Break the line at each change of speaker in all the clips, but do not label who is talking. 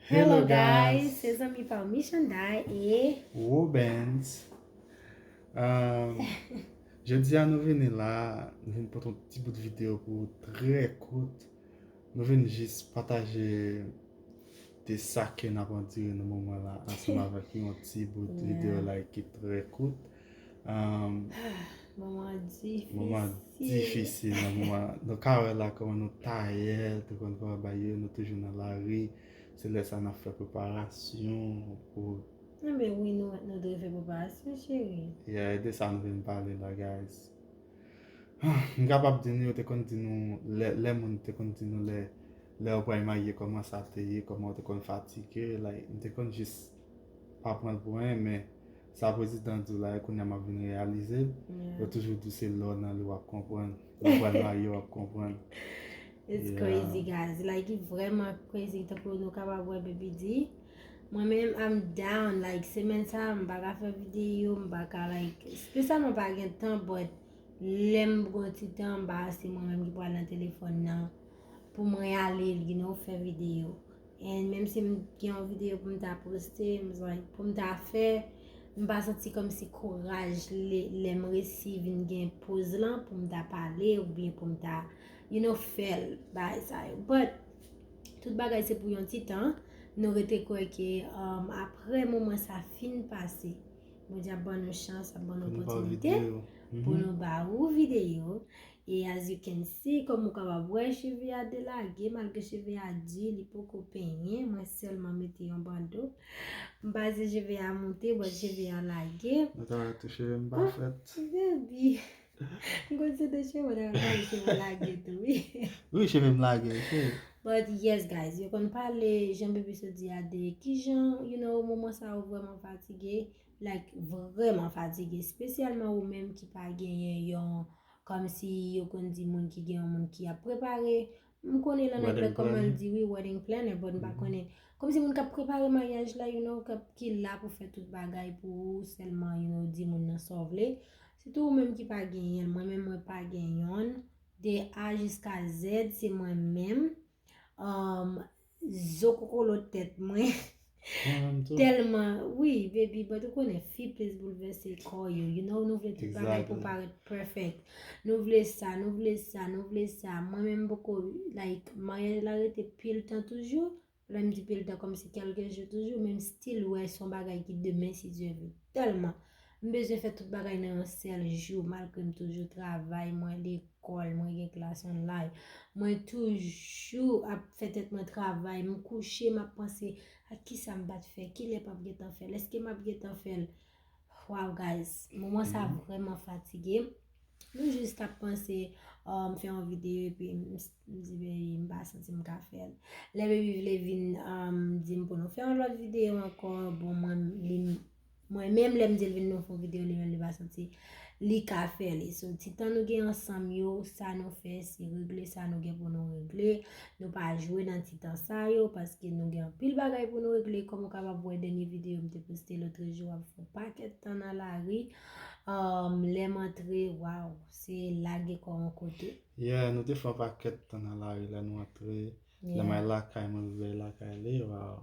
Hello guys, se zanmi pa w Michanday e Robens
Jodi a nou vini la, nou vini pote yon ti bout video pou ou trè kout Nou vini jis pataje de sa ke n ap andire nan moman la ansanm avèk yon ti bout video like ki trè kout Moman
difisil. Moman
difisil
nan moman.
Nou ka wè la kòman nou tayè, te konn fè anba yo, nou toujou nan lari. Se lè sa nan fè preparasyon pou. Nan men wi
nou mèt nou dwe fè preparasyon cheri. Yeah, e de sa nou vin
pale la guys. M kapab di nou yo te konn di nou lè, lè moun te konn di nou lè, lè ou pral marye kòman sa te ye, kòman ou te konn fatige. Like, m te konn jis pa pran l pou anyen men. Sa prezidan diw la e kounya map vin reyalizel yo toujou diw se lè w nan li wap konprann lè w pral marye wap konprann. It's
crazy guys
like
vrèman crazy tankou nou kapab wè baby di mwen menm I'm down like semèn sa m paka fè videyo m paka like spesyalman pa gen tan but lèm pran ti tan m pa se mwen menm ki pral nan telefòn nan pou m reyalize you know fè videyo. And menm si m gen yon video pou m ta poste, m bezwen pou m ta fè, m pa santi kòm si kouraj lè m resi vin gen poz lan pou m ta pale ou byen pou m ta you know fèl bagay sa yo. But tout bagay se pou yon ti tan, nou rete kwè ke aprè moman sa fin pase, Bondye ap ban nou chans, ap ban nou opòtinite pou nou ba ou video. E as you can see, kòm ou kapab wè, cheve a delage, malgre cheve a di, li poko penyen, mwen sèlman mete yon bando. M panse cheve a moute, but cheve a lage. Ou ta wè tou cheve
m pa fèt. Ou vle di,
m konn se de cheve ou ta pale, cheve ou lage tou wi. Wi cheve m lage
ok. But yes
guys, yo konn pale, jan Bebisou di a de kijan, you know, moman sa ou vrèman fatige, like vrèman fatige, spesyalman ou menm ki pa genyen yon. Kòmsi yo konn di moun ki gen yon moun ki ap prepare, m konnen nan anglè kòman l di wi wedding planner but m pa konnen. Kòmsi moun k ap prepare maryaj la you know, k ap ki la pou fè tout bagay pou ou sèlman you know di moun nan sa w vle. Sitou ou menm ki pa genyen l, mwen menm mwen pa gen yonn. De A jiska Z se mwen menm. Zo kokolo tèt mwen. Telman wi baby but ou konnen fi plis boulvèse kò yo you know nou vle tout bagay pou parèt perfect nou vle sa nou vle sa nou vle sa mwen menm mpoko like maryaj la rete pil tan toujou lèm di pil tan kòmsi kèlke jou toujou men m still wè son bagay ki demen si Dye vle tèlman M bezwen fè tout bagay nan yon sèl jou malgre m toujou travay, mwen lekòl, mwen gen klas online. Mwen toujou ap fè tèt mwen travay, m kouche m ap panse ak kisa m pat fè, kilè pap gentan fèl, èske map gentan fèl. Waw guys, moman sa vrèman fatigem. M jis tap panse oh m fè yon videyo epi m di baby m pa santi m ka fèl. Lè baby vle vin di m pou nou fè yon lòt videyo ankò bon mwen li Mwen menm lèm dil vin nou fon video li menm li pa santi li ka fè li so ti tan nou gen ansanm yo sa nou fè se regle sa nou gen pou nou regle nou pa jwe nan ti tan sa yo paske nou gen anpil bagay pou nou regle kòm ou kapab wè dènye video m te poste lotre jou ap fon pakèt tan nan lari um, lèm antre waw se lage kò an kote yeah nou te fon
pakèt tan nan lari lè nou antre lè may lakay mwen vivè lakay li waw.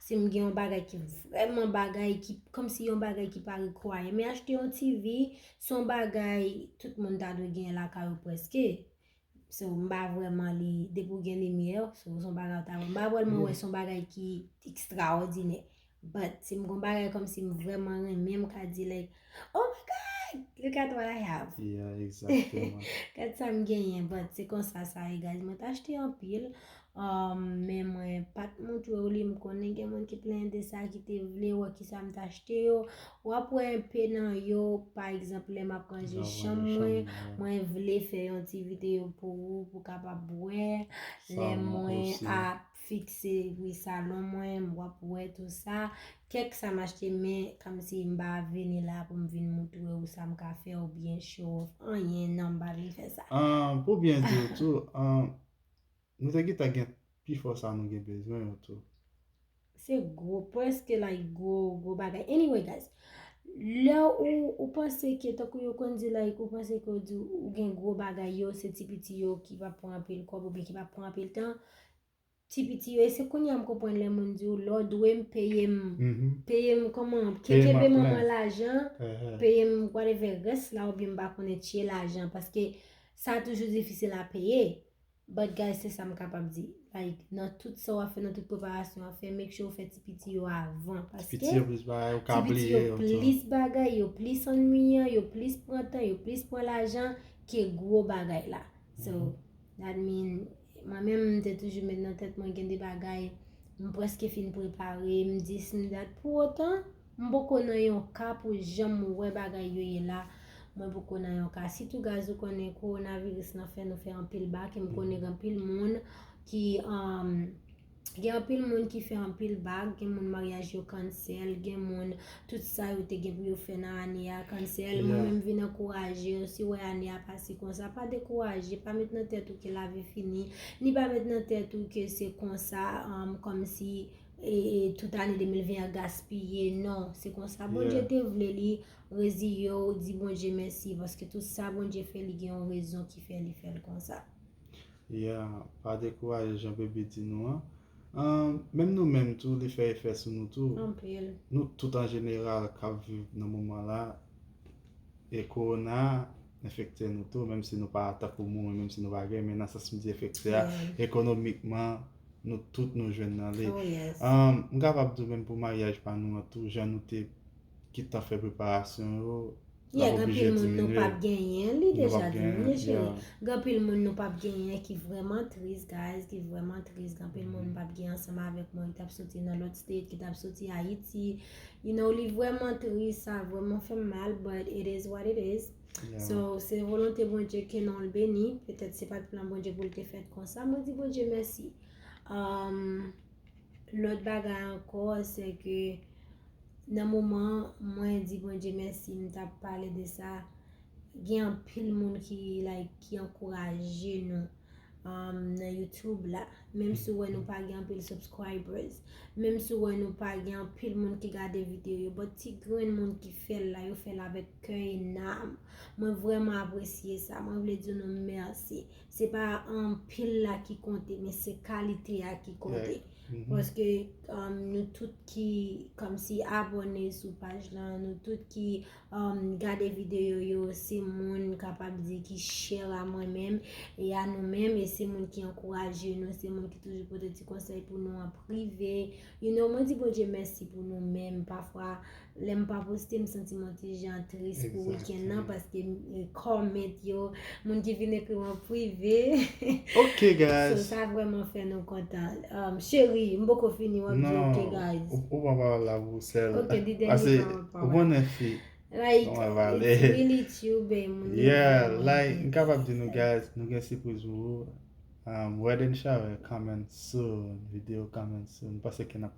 Si m gen yon bagay ki vrèman bagay, ki kòm si yon bagay ki pa require me achte yon TV, se yon bagay tout moun ta dwe gen lakay ou prèske. So, m pa vwè man li, depi w gen limyè, se yon bagay ou ta vwè. M pa vwè man wè se yon bagay ki ekstraòdinè. But, si m gen yon bagay kòm si m vrèman renmen, m ka di like. Oh my God! Look at what I have! Yeah,
exactement. Gad sa m
genyen, but se konsa sa ye guys. Mwen t achte anpil, um, men mwen pa t montre w li. M konnen gen moun ki plenyen de sa, ki te vle wè ki sa m t achte yo. W ap wè enpe nan yo, pa egzanp, lè m ap ranje chanm mwen, mwen vle fè yon ti videyo pou ou, pou w kapab wè. Lè mwen ap. Fikse pri salon mwen, m wap wè tou sa. Kèk sa m achte men kòmsi m pa vini la pou m vin moutre w sa m ka fè oubyen show off anyen non m pa vle fè sa. Pou byen di w
tou, nou te gentan gen pifò sa nou gen bezwen yo tou. Se
gwo, prèske like gwo, gwo bagay. Anyway guys, lè ou panse ke tankou yo konn di like ou panse ke ou di ou gen gwo bagay yo se ti piti yo ki pa pran anpil kòb oubyen ki pa pran anpil tan, Ti piti yo e se kounye a m konprann lè moun di w lè w dwe m peye m peye m kòman kenbe manman lajan peye m whatever rès la oubyen m pa konnen tye lajan paske sa toujou difisil a peye but guys se sa m kapab di like nan tout sa w ap fè nan tout preparasyon w ap fè make sure w fè ti piti yo avan paske ti piti yo plis bagay ou ka
bliye yo ti piti yo plis bagay
yo plis annuiyan yo plis pran tan yo plis pran lajan ke gwo bagay la so. That mean mwen menm m te toujou met nan tèt mwen gen de bagay m preske fin prepare, m dis, m dat pou otan m poko nan yon ka pou janm wè bagay yo ye la mwen poko nan yon ka sitou gaz ou konnen kowonaviris lan fè nou fè anpil bak e m konnen gen anpil moun ki Gen anpil moun ki fè anpil bag, gen moun maryaj yo cancel, gen moun tout sa yo te gen pou yo fè nan ane a cancel, mwen menm vin ankouraje yo si wè ane a pase konsa pa dekouraje, pa met nan tèt ou ke lavi fini, ni pa met nan tèt ou ke se konsa kòmsi tout ane 2020 an gaspiye, non se konsa Bondye te vle li, reziye w, di Bondye mèsi paske tout sa Bondye fè li gen yon rezon ki fè li fè l konsa. Yeah,
pa dekouraje jan Baby di nou an. Menm nou menm tou li fè efè sou nou tou. Anpil. Nou tout an jeneral k ap viv nan moman la e kowona a enfekte nou tou menm si nou pa tankou mwen, menm si nou pa gen men nan sans m di enfekte a ekonomikman nou tout nou jwenn nan li. Oh yes. M kapab di w menm pou maryaj pa nou an tou jan nou te gentan fè preparasyon yo Yeah gen pil
moun nou pap genyen li deja di nou ye cheri gen pil moun nou pap genyen ki vreman tris guys ki vreman tris gen pil moun nou pap genyen ansanm avèk mwen ki tap soti nan lòt state ki tap soti ayiti you know li vreman tris sa vreman fèm mal but it is what it is so se volonte Bondye ke nonl beni petèt se pat plan Bondye poul te fèt konsa mwen di Bondye mèsi aahmm Lòt bagay ankò se ke nan moman mwen di Bondye mèsi m tap pale de sa gen anpil moun ki like ki ankouraje nou nan YouTube la menm si w wè nou pa gen anpil subscribers menm si w wè nou pa gen anpil moun ki gade video yo but ti grenn moun ki fè l la yo fè l avèk kè e nanm mwen vrèman apresye sa mwen vle di nou mèsi se pa anpil la ki konte, men se kalite a ki konte. Paske nou tout ki kòmsi abòne sou paj la, nou tout ki gade videyo yo, se moun kapab di ki chè a mwen menm, e a nou menm, e se moun ki ankouraje nou, se moun ki toujou pote ti konsèy pou nou an prive. You know, mwen di Bondye mèsi pou nou menm, pafwa. Lèm pa poste m santim yon ti jan tris pou weekend nan paske comment yo moun ki vin ekrim an prive Ok
guys So sa vrèman fè nou
kontan um, Cheri m poko fini wap di ok guys Non, ou pran pawòl la pou
ou sèl Ok di dènye pawòl pa wè
Ou konnen
fi Like it's
really true be moun yo Yeah like
m kapab di nou guys nou gen sipriz pou ou um, Wedding shower coming soon, video coming soon, m panse ke nap.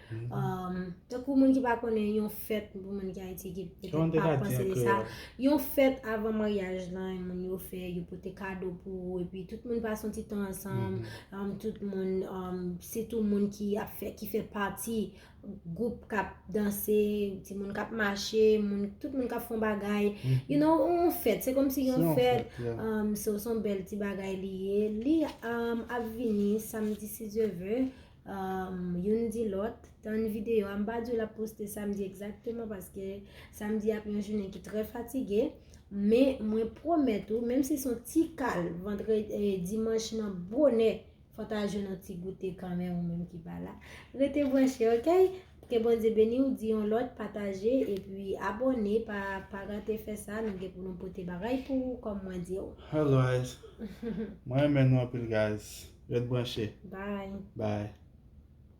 Um, tankou moun ki pa konnen yon fèt pou moun ki Ayiti ki petèt pa panse de sa, yon fèt avan maryaj lan yon moun yo fè, yo pote kado pou ou, epi tout moun pa son ti tan ansanm, mm-hmm. um, tout moun, um, se tou moun ki ap fè, ki fè pati goup kap danse, ti moun kap mache, moun, tout moun kap fon bagay, mm-hmm. you know, yon fèt, se kom si yon fèt, um, se son bel ti bagay li ye, li, um, ap vini, samdi si je ve, Youn di lòt, tann videyo a. M pa di w l ap poste samdi egzakteman paske samdi ap yon jounen ki trè fatige. Men, mwen pwomèt ou, menm si s on ti kal dimanch nan bonè, fò ta jwenn yon ti goute kanmenm ou menm ki pa la. Rete branche, ok? Ke Bondye beniw di yon lòt pataje epi abòne pa pa rate fè sa nou gen pou nou pote bagay pou ou kòm
mwen
diw.
Hello
guys Mwen renmen
nou
anpil
guys Ret branche Bye. Bye.